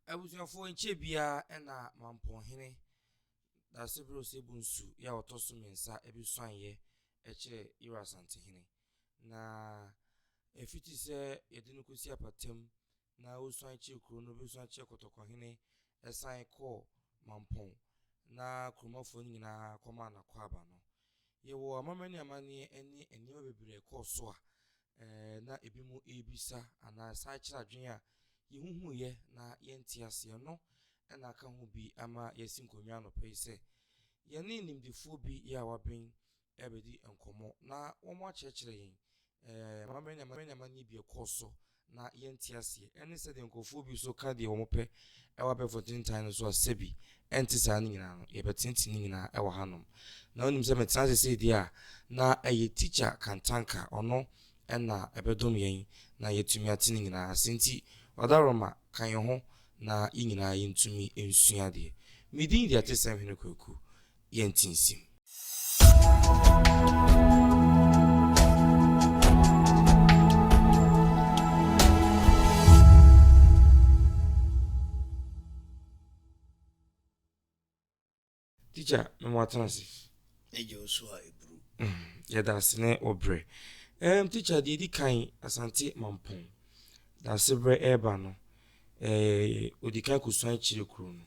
Abusuafoɔ nkyɛ biara na Mampɔhene Dasebere Osebunsu yɛ a ɔtɔ so mmiɛnsa bi suaneeɛ kyerɛ Yero Asantehene. Na ɛfiti sɛ yɛde no kɔsi Apatam na ɔsuane kyerɛ kuro no bi suane kyerɛ Kɔtɔkɔhene sane kɔɔ Mampɔn na kuromafoɔ no nyinaa kɔmaa no akwaaba no. Yɛwɔ amamani amanneɛ ne nneɛma bebree a ɛkɔɔ so a Ɛɛ, na ebinom rebisa anaa san kyerɛ adwene a yehuhuiɛ na yɛnte aseɛ no na aka ho bi ama yɛasi nkonnwa anɔpa yi sɛ yɛne nimdefoɔ bi yɛ a waben rebɛdi nkɔmmɔ na wɔakyerɛkyerɛ yɛn ɛɛ amammerɛ ne amanneɛbɔ bi a ɛkɔɔ so na yɛnte aseɛ ɛne sɛdeɛ nkurɔfoɔ bi nso ka deɛ wɔpɛ Ɛwɔ abɛɛfo ntentan no so a sɛbi ɛnte saa ne nyinaa no yɛbɛtenetene ne nyinaa ɛwɔ hanom. Na wonim sɛ metena ase sei deɛ a na ɛyɛ Tikya Kantanka ɔno ɛna ɛbɛdom yɛn na yɛatumi ate ne nyinaa ase nti Ɔdawuroma ka yɛn ho na yɛn nyinaa yɛntumi nsua adeɛ. Me din deɛ te sɛ Hwene Kwaku yɛntinsim. Teacher, me mo atena ase. Eje osu a eburu. Yɛda ase ne wo brɛ. Um, teacher, deɛ di kan Asante Mampɔn. Da ase brɛ ɛreba no, eh, odi kan kosua akyire kuro no.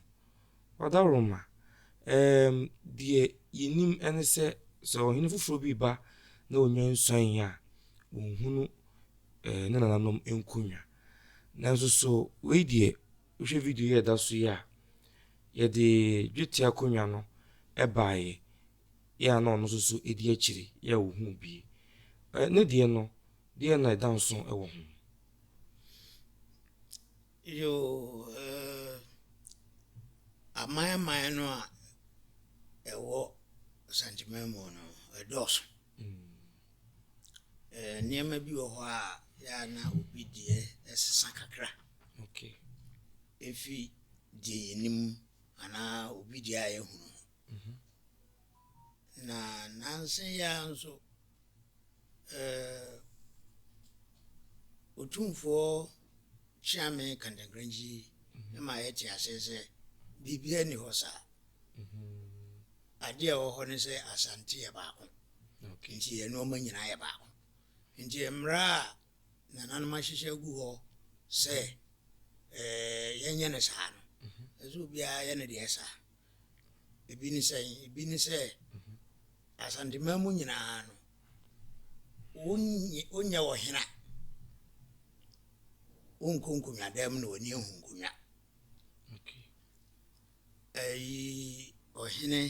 Ɔdawuroma, Ɛɛm, deɛ yɛnim ne sɛ sɛ ɔhene foforɔ bi reba na ɔnya nsuanee a, ɔnhunu ɛɛ ne nananom nkonnwa. Nanso so wei deɛ wohwɛ video yi a ɛda so yi a, yɛde dwetɛ akonnwa no baeɛ yɛ a na ɔno nso so di akyire yɛ a ɔhunu bie. Ɛɛ ne deɛ no, deɛ na ɛda nso wɔ ho. Yoo, eh, aman aman no a ɛwɔ Asantehene mu no, ɛdɔɔso. Eh, nneɛma bi wɔ hɔ a yɛ a na obi deɛ ɛsesa kakra. Okay. Efi deɛ yɛnim anaa obi deɛ a yɛhunu. Mm -hmm. Na nanse yɛ a nso Otumfoɔ Kyeame Kantankrankyi ma yɛte aseɛ sɛ biribiara nni hɔ saa. Adeɛ a ɛwɔ hɔ ne sɛ Asante yɛ baako. Nti yɛn nneɛma nyinaa yɛ baako. Nti mmara a nananom ahyehyɛ agu hɔ sɛ yɛnyɛ no saa no, ɛsɛ obiara yɛ ne deɛ saa. Ebi ne sɛn? Ebi ne sɛ Asanteman mu nyinaa no, wonyɛ ɔhena. Wonkɔ nkonnwa dan mu na w'ani ahu nkonnwa. Ɛyi ɔhene,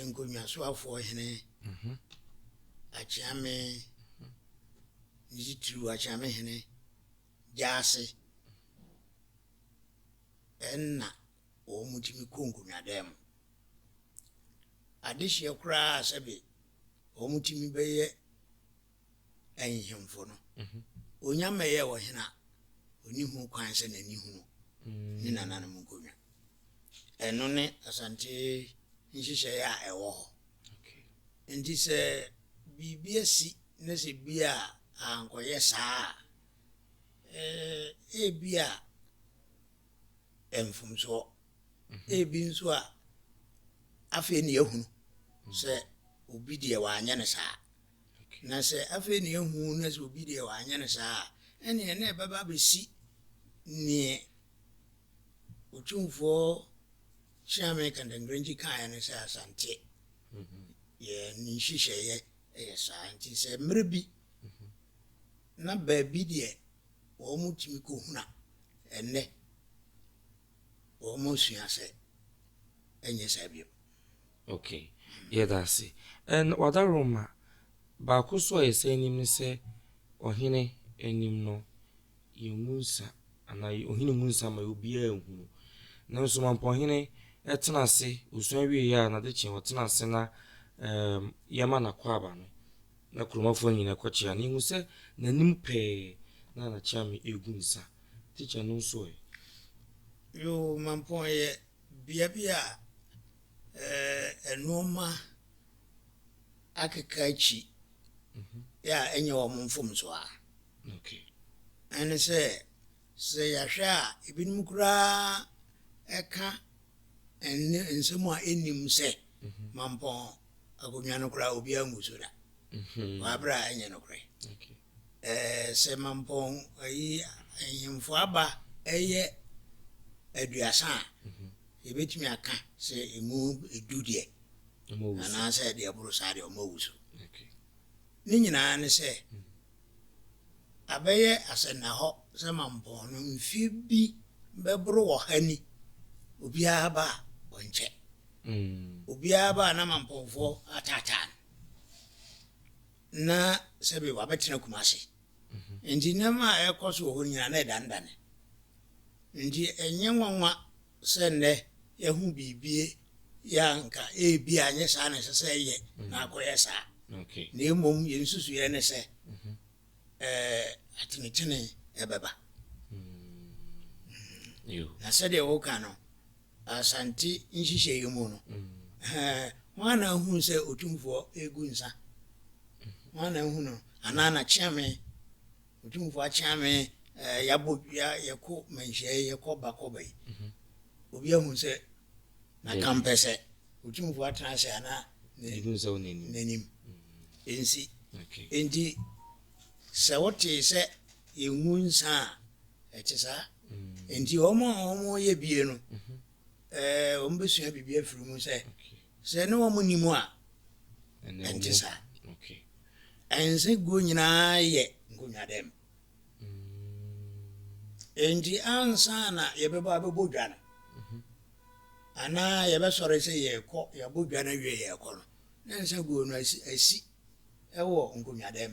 nkonnwasoafoɔ ɔhene, mhm. akyeame, mhm. ne titiriw akyeame hene, gyaase. Nna wɔtumi kɔ nkonnwadan mu. Adehyeɛ koraa sɛbe wɔtumi bɛyɛ ahemfo no, onya mmɛyɛɛ ɔhene a, ɔni ho kwan sɛ n'ani hunu ne nananom nkonnwa. Ɛno ne Asante nhyehyɛeɛ a ɛwɔ hɔ. Nti sɛ biribi asi na sɛ bi a ankɔyɛ saa a, Ee, ebia mfomso, ebi nso a afei na yɛahunu sɛ obi deɛ wanyɛ no saa. Na sɛ afei na yɛahu no sɛ obi deɛ wanyɛ no saa a, ɛneɛ na ɛbɛba abɛsi neɛ Otumfoɔ Kyeame Kantengrenji kaeɛ no sɛ Asante yɛn nhyehyɛeɛ yɛ saa nti sɛ mmerɛ bi Na baabi deɛ wɔtumi kɔhuna ɛnnɛ, wɔasua sɛ ɛnyɛ saa bio. Ok, yɛda ase. And Wadaroma, baako nso a yɛsan nim ne sɛ Ɔhene anim no, yɛngu nsa anaa Ɔhene ngu nsa ma obiara nhunu. Nanso Mampɔhene tena ase, ɔsua wieeɛ a, n'adekyeɛ ɔtena ase na yɛma n'akwaaba no. Na Kuromafo no nyinaa kɔkyea no. Yehu sɛ n'anim pɛɛ na na Kyeame regu nsa. Tikya no nso ɛ? Yoo, Mampong yɛ bea bi a nnoɔma akeka akyi a ɛnyɛ wɔn mfomsoɔ a ɛne sɛ, sɛ yɛahwɛ a, ebinom koraa ka nsɛm a ɛnnim sɛ Mampong akonnwa no koraa obiara ngu so da wɔ abere a ɛnyɛ nokorɛ. Sɛ mampɔn ayi ahemfo aba ɛyɛ aduasa a yɛbɛtumi aka sɛ ɛmu edu deɛ anaasɛ deɛ ɛboro saa deɛ ɔma wu so. Ne nyinaa ne sɛ Abɛyɛ asɛnnahɔ sɛ mampɔn no mfe bi bɛboro ɔha ni, obiara ba a, ɔnkyɛ. Obiara ba a na mampɔnfoɔ ataataa no. Na sɛbe wabɛtena Kumasi. Nti nneɛma a ɛrekɔ so wɔ hɔ nyinaa na ɛdanedane. Nti ɛnyɛ nwanwa sɛ nnɛ yɛahu biribi yɛ a, anka ebia ɛnyɛ saa na ɛsɛ sɛ ɛyɛ na akɔyɛ saa. Na mmom yɛn nsusuiɛ ne sɛ atenetene ɛbɛba. Na sɛdeɛ woka no, Asante nhyehyɛeɛ mu no, hwan na ahunu sɛ Otumfoɔ regu nsa? Hwan na ahunu no? Anaa na Kyeame Otumfo akyea me, eh, yɛabɔ dua, yɛkɔ manhyiae, yɛkɔ ba kɔ ba yi. Obi ahu sɛ maka mpɛ sɛ Otumfo atena ase anaa n'anim nsi. Enti sɛ wotee sɛ yɛngu nsa a, ɛte saa. Enti wɔn a wɔyɛ bie no, eh, wɔn bɛsua biribi afiri mu sɛ Sɛ ne wɔn nni mu a, ɛnte saa. Ɛnsɛ guo nyinaa yɛ nkonnwadam. Enti ansa na yɛbɛbɔ abɛbɔ dwa no, mhm. anaa yɛbɛsɔre sɛ yɛrekɔ yɛabɔ dwa no awie yɛrekɔ no, na nsa guo no asi wɔ nkonnwadam.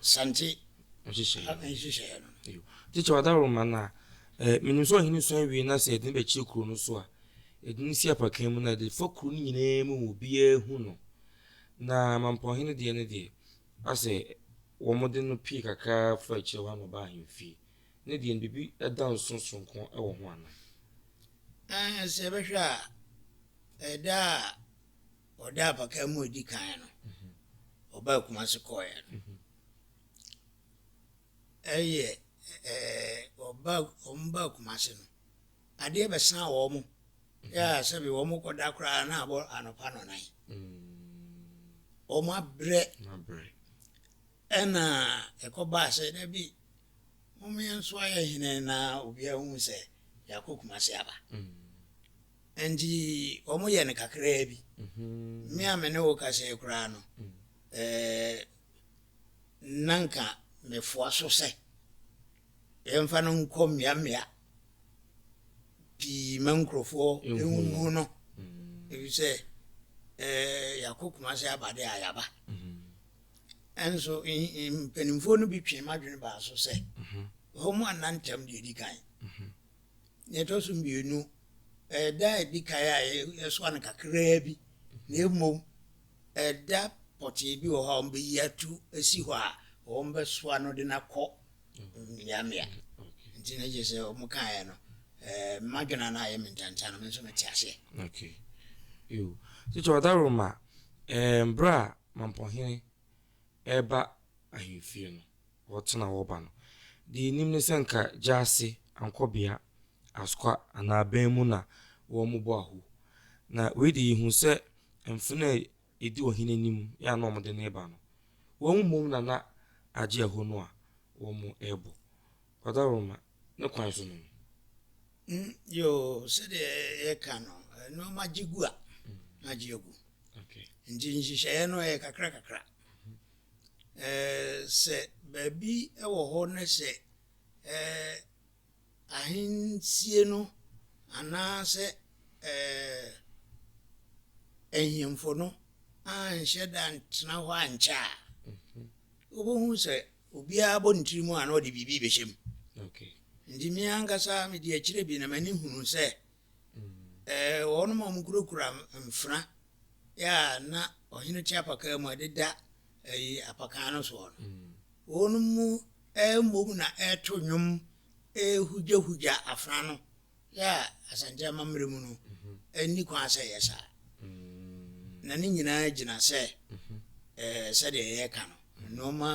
Sante nhyehyɛeɛ no. Tikya Wadaroma no a, eh, menim sɛ ɔhene suan wie na sɛ yɛde no bɛkyerɛ kuro no so a, yɛde no si apakan mu na yɛde fa kuro no nyinaa mu ma obiara hu no. Na mampɔnhene deɛ no deɛ, asɛ wɔde no pie kakra fa akyire hɔ na ɔba ahemfie. Ne deɛ no biribi da nso soronko wɔ ho anaa? Eh, sɛ yɛbɛhwɛ a, ɛda a Ɔda apakaa mu a edi kan no, ɔbaa Kumasi kɔɔeɛ no, ɛyɛ ɛɛ ɔbaa wɔn baa Kumasi no, adeɛ bɛsan wɔn yɛ a sɛbi wɔn kɔda koraa na abɔ anɔpa nɔnan. Wɔn abrɛ ɛna ɛkɔbaa sɛ na bi wɔn yɛn nso ayɛ hene na obiara hu sɛ yɛakɔ Kumasi aba. Enti wɔyɛ no kakraa bi. Me a me ne wo kasae koraa no, na anka mefoa so sɛ yɛmfa no nkɔ mmeammea pii ma nkurɔfoɔ nhu no, ɛfiri sɛ yɛakɔ Kumase aba de a yɛaba. Nso mpanimfoɔ no bi twee m'adwene baa so sɛ wɔn annantam deɛ ɛdi kan. Nea ɛtɔ so mmienu, ɛyɛ da a edi kan a yɛsoa no kakraa bi, na mmom ɛda pɔtee bi wɔ hɔ a wɔbɛyi ato asi hɔ a wɔbɛsoa no de no akɔ mmeammea. Nti na gye sɛ wɔn kaeɛ no, eh, madwena no ayɛ me ntanta no, me nso mete aseɛ. Okay. Yo. Tete Ɔdaroma, eh, berɛ a Mampɔhene ɛreba ahemfie no, wɔtena a wɔba no. Deɛ yɛnim ne sɛ nka Gyasi, Ankorbea, Askwa anaa Aben mu na wɔbɔ ahu. Na wei deɛ yɛhu sɛ mfena a ɛdi ɔhene anim yɛ a na wɔde no reba no, wɔn mmom na na agye ahu no a wɔrebɔ. Kwada Roma, ne kwan so no no? Mm, yoo, sɛdeɛ yɛka no, nneɛma gye gu a, na agye agu. Nti nhyehyɛeɛ no yɛ kakrakakra. Ɛɛ, sɛ baabi wɔ hɔ na sɛ ɛɛ ahensie no anaasɛ ɛɛ ahemfo no anhyɛ da antena hɔ ankyɛ a, wobɛhu sɛ obiara bɔ ne tiri mu a na ɔde biribi bɛhyɛ mu. Nti me ankasa mede akyire bi na m'ani hunu sɛ Wɔnom a wɔkurakura mfena a na ɔhene te apakaa mu a ɛdeda apakaa no soɔ no, wɔnom mu mmom na ɛreto nnwom rehugyahugya afena no a Asante amammerɛ mu no nni kwan sɛ ɛyɛ saa. Na ne nyinaa gyina sɛ sɛdeɛ yɛreka no, nnoɔma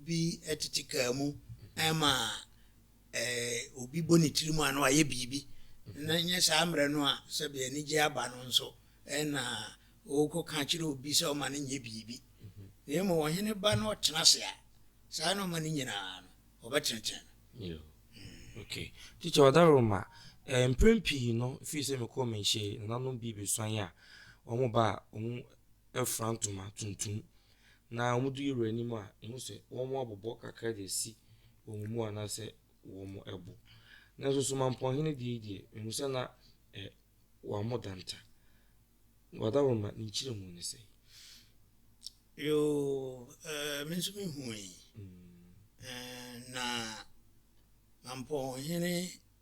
bi tete kaa mu ma obi bɔ ne tirim a na wayɛ biribi, na ɛnyɛ saa mmerɛ no a sɛbe anigyeɛ aba no nso na ɔkɔka kyerɛ obi sɛ ɔma no nyɛ biribi. Na mmom ɔhene ba na ɔtena ase a, saa na ɔma no nyinaa no ɔbɛtenetene no. Okay. Teacher, Ɔdaroma, eh, mprɛn pii no, firi sɛ mekɔɔ menhyɛ yi, nananom bi bɛsuan a, wɔn ba a, wɔn afura ntoma tuntum, na wɔn du yɛwura anim a, ɛhu sɛ wɔn abobɔ kakra de asi wɔn mu anaasɛ wɔabu. Nanso Somampɔnhene deɛ yi deɛ, mehu sɛ na ɛ wɔammɔ danta. Wadaworoma, ne nkyerɛmu ne sɛn? Yoo, ɛɛ me nso mehui. Ɛɛ na Mampɔnhene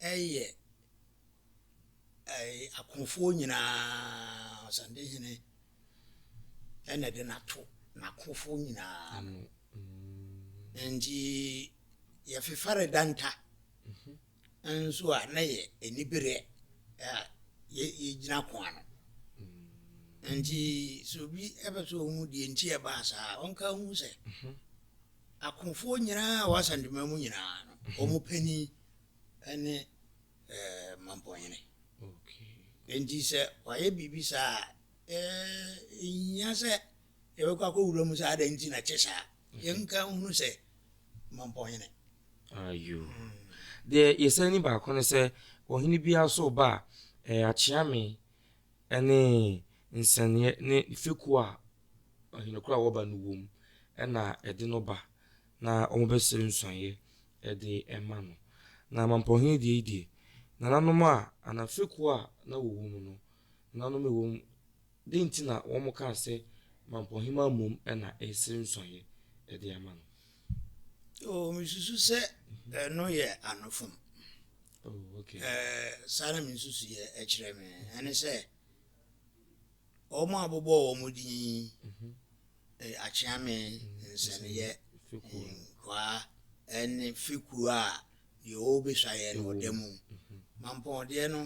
yɛ ɛɛ akofoɔ nyinaa ɔsandehene na ɛde no ato n'akofo nyinaa ano mm. nti yɛfefare danta mhm. nso a na yɛ anibereɛ yɛgyina ko ano mm. nti sɛ obi ɛbɛ sɛ ɔhu deɛ nti ɛbaa saa ɔnka hu sɛ mhm. akofoɔ nyinaa a wɔasantema mu nyinaa no mhm. ɔmo panin ɛne Mampɔhene. Enti sɛ wayɛ biribi saa a, ɛhia sɛ yɛbɛkɔ akɔwura mu sɛ adɛn nti na ɛte saa. Yɛnka nhunu sɛ Mampɔhene. Ayo. Deɛ yɛsan ni baako ne sɛ ɔhene biara so ba a, ɛyɛ akyeame ne nsɛnneɛ ne fekuo a ɔhene korɔ a wɔba no wom na ɛde no ba. Na wɔbɛsrɛ nsuaeɛ de ma no. Na Mampɔhene deɛ yi deɛ, nananom a anaa fekuo a na wɔwɔ mu no, nananom a wɔwɔ mu, dɛn nti na wɔkaa sɛ Mampɔhema mmom na ɛresrɛ nsuaeɛ de ama no? Oh, mesusu sɛ ɛno yɛ anofam. Oh, okay. Eh, saa na mesusu yɛ ɛkyerɛ me. Ɛne sɛ, wɔn a wɔbɔ wɔn din yi, mhm. Ɛyɛ akyeame nsɛnneɛ nkoaa ne fekuo a deɛ ɔbɛsua yɛ no ɔda mu. Mampɔn deɛ no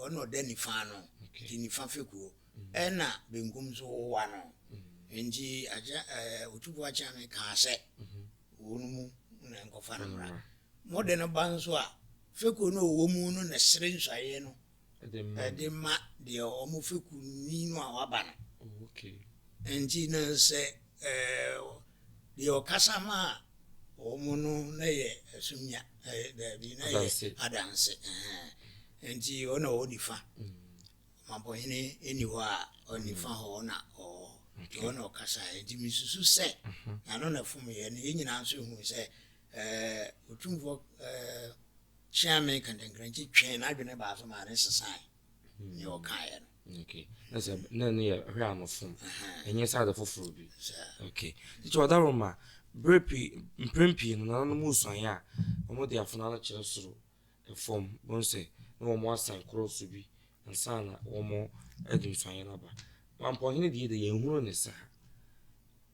ɔno ɔda nifa ano nti nifa fekuo ɛna benkum nso wowa no nti Otumfoɔ Akyeame kaa sɛ wɔn mu na nkɔfa no mmra. Mode no ba nso a fekuo no ɔwɔ mu no na sere nsuaeɛ no de ma deɛ wɔn fɛkuwni no a waba no. Enti no sɛ deɛ ɔkasa ma wɔn no na yɛ asumnya, daabi, na yɛ adanse. Enti ɔna ɔwɔ nifa. Ɔmampɔhene ɛni hɔ a ɔnifa hɔ ɔna ɔwɔ hɔ. Ɔna ɔkasa. Enti mesusu sɛ n'ano na ɛfomyɛ no. Yɛn nyinaa nso hu sɛ Ɛɛ, Otumfoɔ ɛɛ Kyeame Kantankrankyi twee n'adwene baa so maa ne sesae nea ɔkaeɛ no. Okay. Na sɛ na ne yɛ hwɛ anofom. Ɛnyɛ sɛ ade foforɔ bi. Okay. Nti ɔdaro ma berɛ pii mprɛn pii no nana no mu suaeɛ a wɔn de afona no kyerɛ soro fam bɛhu sɛ na wɔn asan korɔ so bi ansa na wɔn de nsuaeɛ no aba. Mampɔnhene deɛ de yɛnhunu ne saa.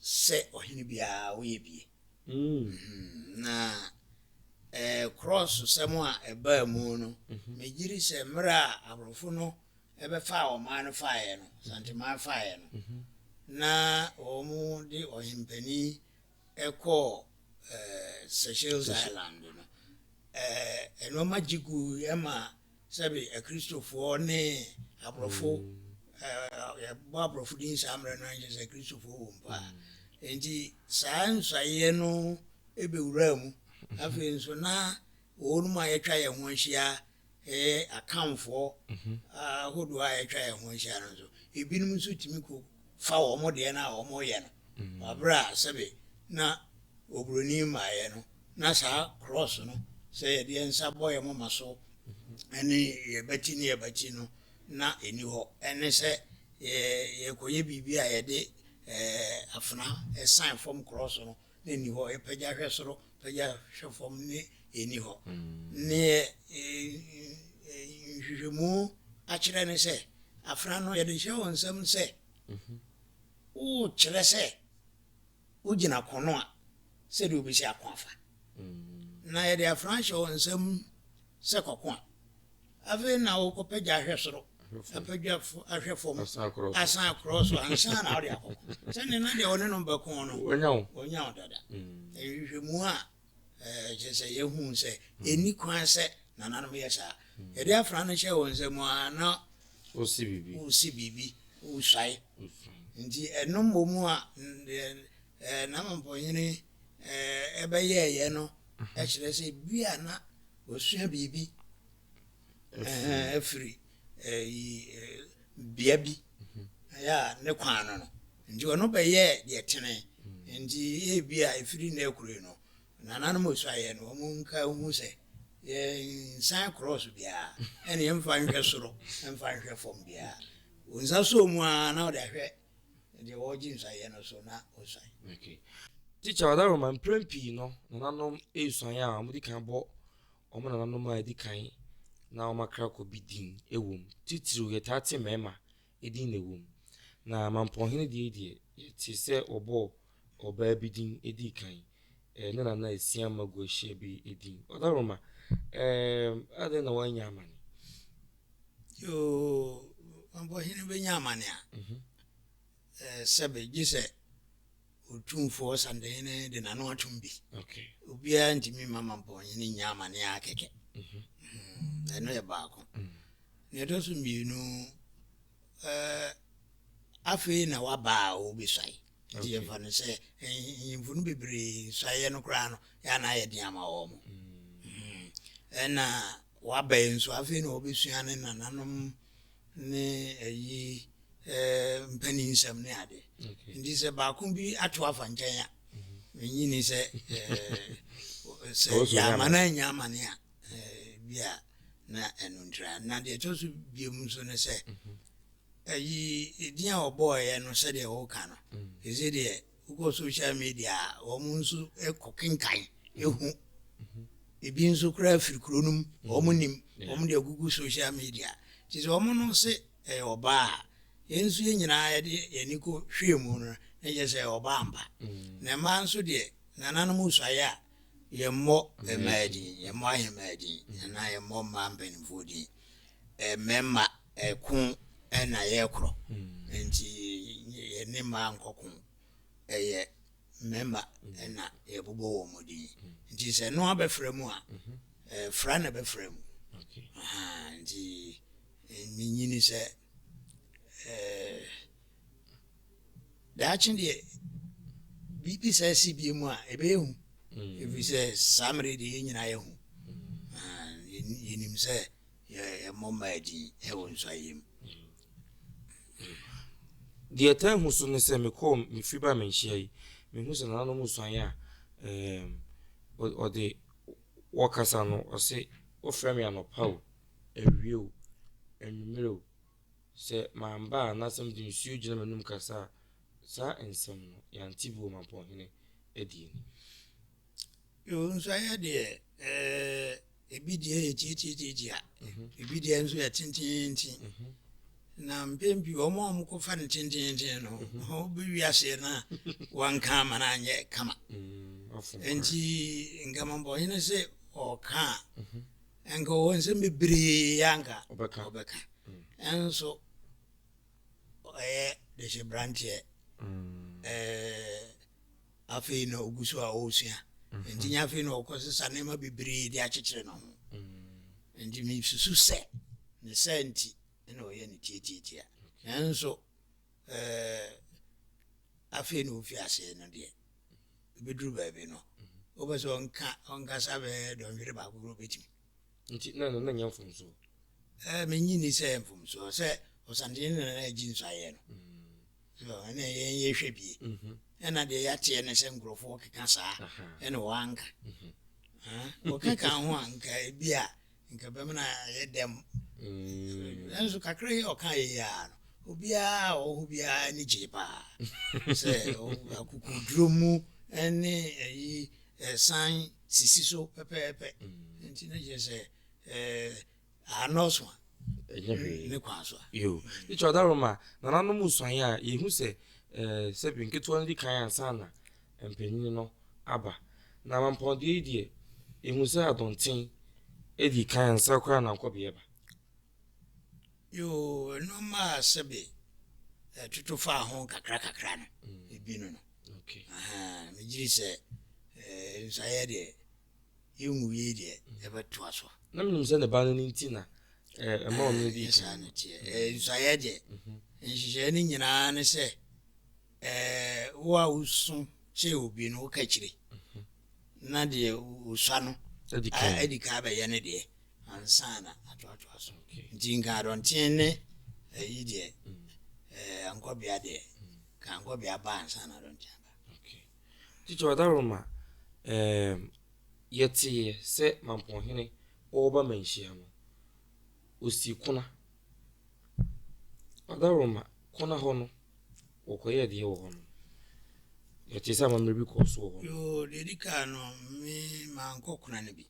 sɛ ɔhene biara woyɛ bie na krɔɔso sɛm a ɛbaa mu no megye di sɛ mmerɛ a aborɔfo no ɛbɛfaa ɔman no faeɛ no santeman faeɛ no na wɔn de ɔhempani ɛkɔɔ Seychelles Island no ɛnoɔma gye gu ɛma Sɛbe Akristofoɔ ne aborɔfo, yɛbɔ aborɔfo din saa mmerɛ no ara nkyerɛ sɛ Akristofoɔ wɔ mu paa. Enti saa nsaeɛ no bɛwuraa mu. Afei nso na wɔnom a yɛatwa yɛn ho ahyia ɛyɛ akanfoɔ ahodoɔ a yɛatwa yɛn ho ahyia no nso, ebinom nso tumi kɔ fa wɔn deɛ no a wɔyɛ no Wɔ bere a sɛbe na oburoni mmaeɛ no, na saa krɔɔs no, sɛ yɛde yɛn nsa bɔ yɛn moma so ne yɛn abati ne yɛn abati no, na ɛnni hɔ. Ɛne sɛ yɛrekɔyɛ biribi a yɛde afena san fam krɔɔs no, na ɛnni hɔ. Yɛpagya hwɛ soro, pagya hwɛ fam, na ɛnni hɔ. Neɛ nhwehwɛmu akyerɛ ne sɛ, afena no, yɛde hyɛ wɔn nsam sɛ. wokyerɛ sɛ wogyina ko no a, sɛdeɛ wobɛsi ako afa. Na yɛde afra hyɛ wo nsam sɛ kɔko a, afei na wokɔpɛ gya ahwɛ soro, apɛ gya ahwɛ fam, asan akorɔ so ansa na wode akɔko. Sɛdeɛ na deɛ wɔne no bɛko no, wɔnya wo dada. Nhwehwɛmu a Ɛkyerɛ sɛ yɛhu sɛ ɛnni kwan sɛ nananom yɛ saa. Yɛde afra no hyɛ wɔn nsam a na wosi biribi, wosi biribi, wosuae. Nti ɛno mmom a n'amampɔnyini ɛbɛyɛɛyɛ no kyerɛ sɛ bi a na wasua biribi afiri bea bi a ne kwan no no. Enti ɔno bɛyɛɛ deɛ ɛtene. Enti ebia ɛfiri nnɛ rekɔ yi no, nananom osuaeɛ no, wɔnka nhu sɛ, yɛnsan krɔɔso biara, ɛne yɛmfa nhwɛ soro, mfa nhwɛ fam biara. Wo nsa sɔɔ mu ara na wode ahwɛ deɛ wɔregye nsuaeɛ no so na wosuan. Tikya Ɔdaroma, Mprɛn pii no, nananom resuan a, wɔdi kan bɔ wɔn nananom a ɛdi kan na wɔakra kɔ bi din wom. Titiriw, yɛtaa te mmarima edin na ɛwom. Na Mampɔnhene deɛ deɛ yɛtee sɛ wɔbɔɔ ɔbaa bi din dii kan, ɛɛ, ne nana Asiam Maguahyia bi din. Ɔdaroma, ɛɛ, adɛn na woannya amane? Yoo, Mampɔnhene bɛnya amane a, ɛɛ, sɛbe, gye sɛ. Otumfoɔ Ɔsandahene de n'ano atom bi. Obiara ntumi mma Mampɔnhene nnya amane ara kɛkɛ. Mhm. Mm, ɛno yɛ baako. Mm. Nea ɛtɔ so mmienu, eh, afei na waba a wɔbɛsuae. Nti yɛmfa no sɛ nyimfo no bebree nsuaeɛ no koraa no, yɛ anaa yɛ den ama wɔ mo. Mm. Mm. Ɛna Waba yi nso afei na ɔbɛsua ne nananom ne ayi mpanin nsɛm ne ade nti sɛ baako bi ato afa nkyɛn a menyini sɛ sɛ yɛama no anya amane a bi a na ɛno ntira na deɛ ɛtɔ so biom nso ne sɛ ayi ɛdin a ɔbɔɔeɛ no sɛdeɛ woka no ɛsɛ deɛ Wokɔ social media a, wɔn nso kɔ kenkan hu. Ebi nso koraa firi kuro no mu, wɔn nim, wɔn de agugu social media. Nti sɛ wɔn no se ɛyɛ ɔbaa a, yɛn nso yɛn nyinaa yɛde yɛn ani kɔ hwee mu no, na kyerɛ sɛ ɔbaa mpa. Na mmaa nso deɛ, nananom suaeɛ a, yɛmmɔ mmaa din, yɛmmɔ ahemmaa din, anaa yɛmmɔ mmaa mpanimfoɔ din. Mmarima Ɛko na yɛkorɔ nti yɛne mmaa nkɔko. Ɛyɛ mmarima na yɛbobɔ wɔn din. Nti sɛ no abɛfra mu a, fra na bɛfra mu. Nti menyini sɛ daakye deɛ biribi saa si bie mu a ɛbɛyɛ hu. Ɛfiri sɛ saa mmerɛ deɛ yɛn nyinaa yɛhu. Yɛnim sɛ Yɛ mmɔmma adi wɔ nsuaeɛ mu. Deɛ ɛtaa hu so ne sɛ mekɔɔ me firi baa me nhyia yi, mehu sɛ nananom nsuaeɛ a wɔde wɔkasa no, wɔse wofrɛ me anɔpa o, awia o, anwummerɛ o, sɛ mamba a anaasɛ mede nsuo gyina m'anom kasa a, saa nsɛm no yɛante bi wɔ Mampɔnhene adie no mu. Yoo, nso ɛyɛ deɛ ɛɛ ebi deɛ yɛ tiatiatiatia, ebi deɛ nso yɛ tenteenten. Na mpɛn pii wɔn a wɔkɔfa no tenteenten no, wɔbɛwi aseɛ no a wɔnka ama no anyɛ kama. Nti nkamabɔnye no sɛ ɔka a, nka ɔwɔ nsɛm bebree a nka ɔbɛka. Nso ɔyɛ dehyɛberanteɛ ɛɛ. Afei na ogu so a ɔresua. Enti nyɛ afei na ɔrekɔsesa nneɛma bebree de akyekyere ne ho. Enti misusu sɛ ne saa nti na ɔyɛ no tiatiatia. Nanso afei na ofi ase no deɛ, ɛbɛduru baabi no, wopɛ sɛ ɔnkasa bɛyɛ dɔnhwere baako koraa, ɔbɛtumi. Nti na nana nya mfomso? Ɛɛ, minnye nni sɛ ɛyɛ mfomso. Sɛ ɔsantene na nana agye nso ayɛ no. So, ɛnna yɛn yɛhwɛ bie. Ɛnna deɛ yɛateɛ ne sɛ nkurɔfoɔ keka saa, ɛnna wɔanka. Wɔka ka ho a, nka ebi a, nka bɛma no ayɛ dɛm. Nanso kakra yi a ɔkaeɛ yi ara no, obiara a ɔwɔ hɔ biara ani gyee paa. Sɛ akokoduro mu ne ayi san sisi so pɛpɛɛpɛ nti ne kyerɛ sɛ ɛɛ anɔɔso a ɛnyɛ hwee ne kwan so a. yoo ne kyerɛ ɔda roma nananom nsuaeɛ a yɛhu sɛ ɛɛ sɛbi nketewa no di kan ansa na mpanyin no aba na amampɔndeɛ yi deɛ yɛhu sɛ adɔnten edi kan ansa koraa na nkɔbeɛ ba. Yoo, ɛno maa sɛbe ɛtoto faa ho kakrakakra no, ebi no no. Ahaa, megyiri sɛ ɛɛ nsaeɛ deɛ, yɛnwuiei deɛ, yɛbɛtoa so. Na menim sɛ ne ba no no nti na ɛɛ ɛma ɔno di kan. Ɛɛ, saa no teɛ. Ɛɛ nsaeɛ deɛ, nhyehyɛeɛ no nyinaa ne sɛ wo a wosu kyerɛ obi no woka kyire na deɛ wosua no adi kan bɛyɛ no deɛ ansa na atoatoa so nti nka adɔnteɛ ne ayi deɛ ankɔbea deɛ ka ankɔbea ba ansa na adɔnteɛ ba titɔ adaroma yɛteeɛ sɛ mampɔnhene wɔba manhyia no Wɔsii Kona. Adaroma, Kona hɔ no, wɔkɔyɛɛ deɛ wɔ hɔ no. Yɛtee sɛ amammerɛ bi kɔɔ so wɔ hɔ no. Yoo, deɛ ɛdi kan no, me mankɔ Kona no bi.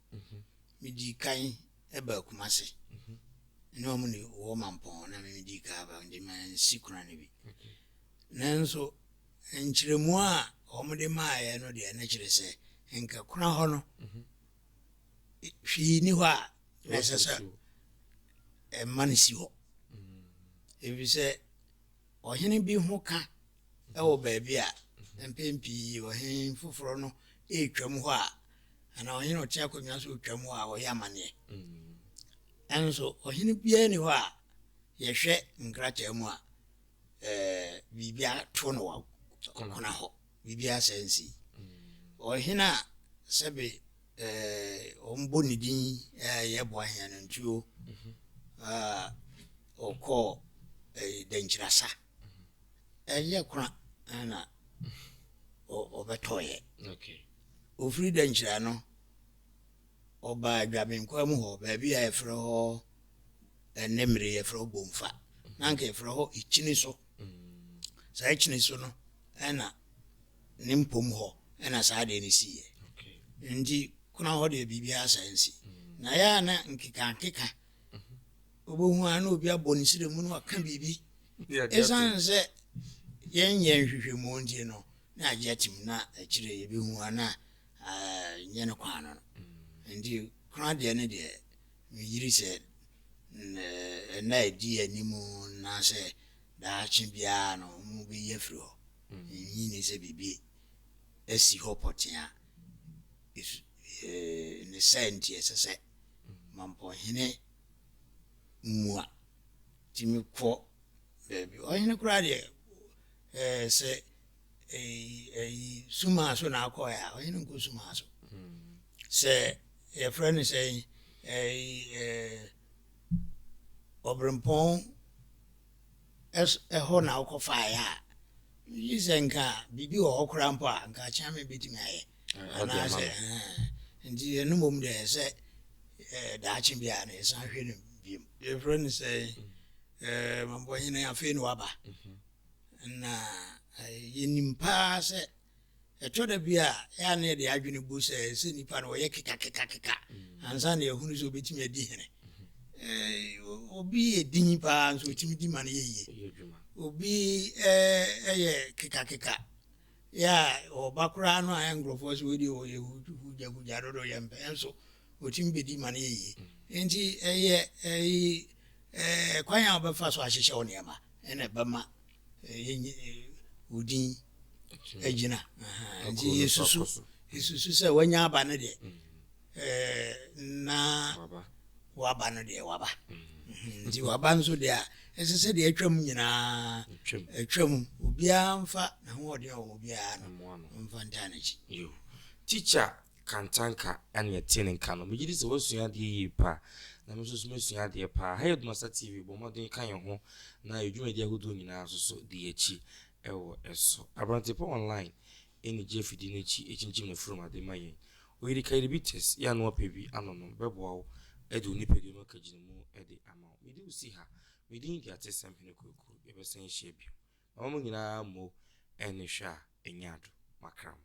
Medii kan baa Kumasi. Me ne wɔn ne wɔ Mampɔn na me medii kan aba nti mansi Kona no bi. Nanso nkyerɛmu a wɔde maeɛ no deɛ na kyerɛ sɛ nka Kona hɔ no hwee nni hɔ a na ɛsɛ sɛ ɛma no si hɔ efisɛ ɔhene bi ho ka wɔ baabi a mpɛn pii ɔhene foforɔ no retwam hɔ a anaa ɔhene ɔte akonnwa so retwam hɔ a ɔyɛ amanneɛ ɛnso ɔhene biara ni hɔ a yɛhwɛ nkrataa mu a ɛɛ biribi ato no wɔ kɔkɔna hɔ Biribiara saa nsii. Ɔhene a sɛbe eh, wɔbɔ ne din eh, yɛ boa hea no ntuo ah, ɔkɔɔ eh, dankyirasa ɛyɛ kora na ɔbɛtɔeɛ. Okay. Ɔfiri dankyira no ɔbaa dwabenkwaa mu hɔ baabi a yɛfrɛ hɔ ɛnɛ mmere yɛfrɛ hɔ bomfa na anka yɛfrɛ hɔ ikyini so Saa akyiri so no na ne mpom hɔ na saa adeɛ no siiɛ. Nti kona hɔ deɛ biribiara saa nsi. Na yɛ a na nkekankeka wobɛhu a na obi abɔ ne srɛ mu na waka biribi. Ɛsiane sɛ yɛnyɛ nhwehwɛmu nti no na agye atim na akyire yɛbɛhu a na nyɛ no kwan no. Nti kona deɛ no deɛ Me yiri sɛ nna a ɛdi yɛn anim anaasɛ daakye biara no wɔbɛyi afiri hɔ. Nnye nni sɛ biribi asi hɔ pɔtee a ne saa nti ɛsɛ sɛ Mampɔhene mua tumi kɔ baabi. Ɔhene koraa deɛ, sɛ sumaa so na akɔɛ a ɔyɛ no nkɔ sumaa so sɛ yɛfrɛ no sɛ ɔbrempɔn ɛhɔ na wokɔfaeɛ a yi sɛ nka biribi wɔ hɔ koraa mpo a nka akyea me bɛtumi ayɛ anaasɛ nti ɛno mmom deɛ sɛ daakye bi a na yɛsan hwɛ no biom yɛfrɛ no sɛ mabɔhene afei na waba Na yenim paa sɛ ɛtɔ da bi a, ɛyɛ a na yɛde adwene bu sɛ ɛsɛ sɛ nnipa no wɔyɛ kekakekakeka ansa na yɛahunu sɛ obetumi adi hene. Obi yɛ din paa nso otumi di ma no yɛ yie. Obi yɛ kekakeka yɛ a ɔba koraa no a nkurɔfoɔ sɛ wei deɛ ɔyɛ hugyahugya dodo yɛmpɛ nso otumi bedi ma no yɛ yiye. Enti ɛyɛ kwan a wobɛfa so ahyehyɛ wo nneɛma na ɛbɛma wo din agyina. Nti yesusu yesusu sɛ wanya aba no deɛ, na waba no deɛ waba. Nti waba nso deɛ a, ɛsɛ sɛ deɛ atwam nyinaa atwam. Obiara mfa n'ahoɔden a ɔwɔ biara no mfa ntaa n'akyi. Tikya Kantanka a nea ɛte ne nka no, megye di sɛ woasua adeɛ yie pa ara, na me nso so masua adeɛ pa ara. Ha yɛ Dumasa TV, bɔ mmɔden ka yɛn ho na yɛn dwumadi ahodoɔ nyinaa nso so di yɛn akyi wɔ so. Aberantepa Online ne Gye Afidie no Akyi kyinkyim n'afurum ade ma yɛn. Oyirika Diabetes, yɛ anoa pɛ bi anonom bɛboa wo de wo nipadua mu akagyinamu de ama wo. Mede wo si ha. Me din de Atesɛm Hene Kwaku. Yɛbɛsan ahyia bio. Ma mo nyinaa mo ɛne hwɛ a ɛnyɛ ado makra mo.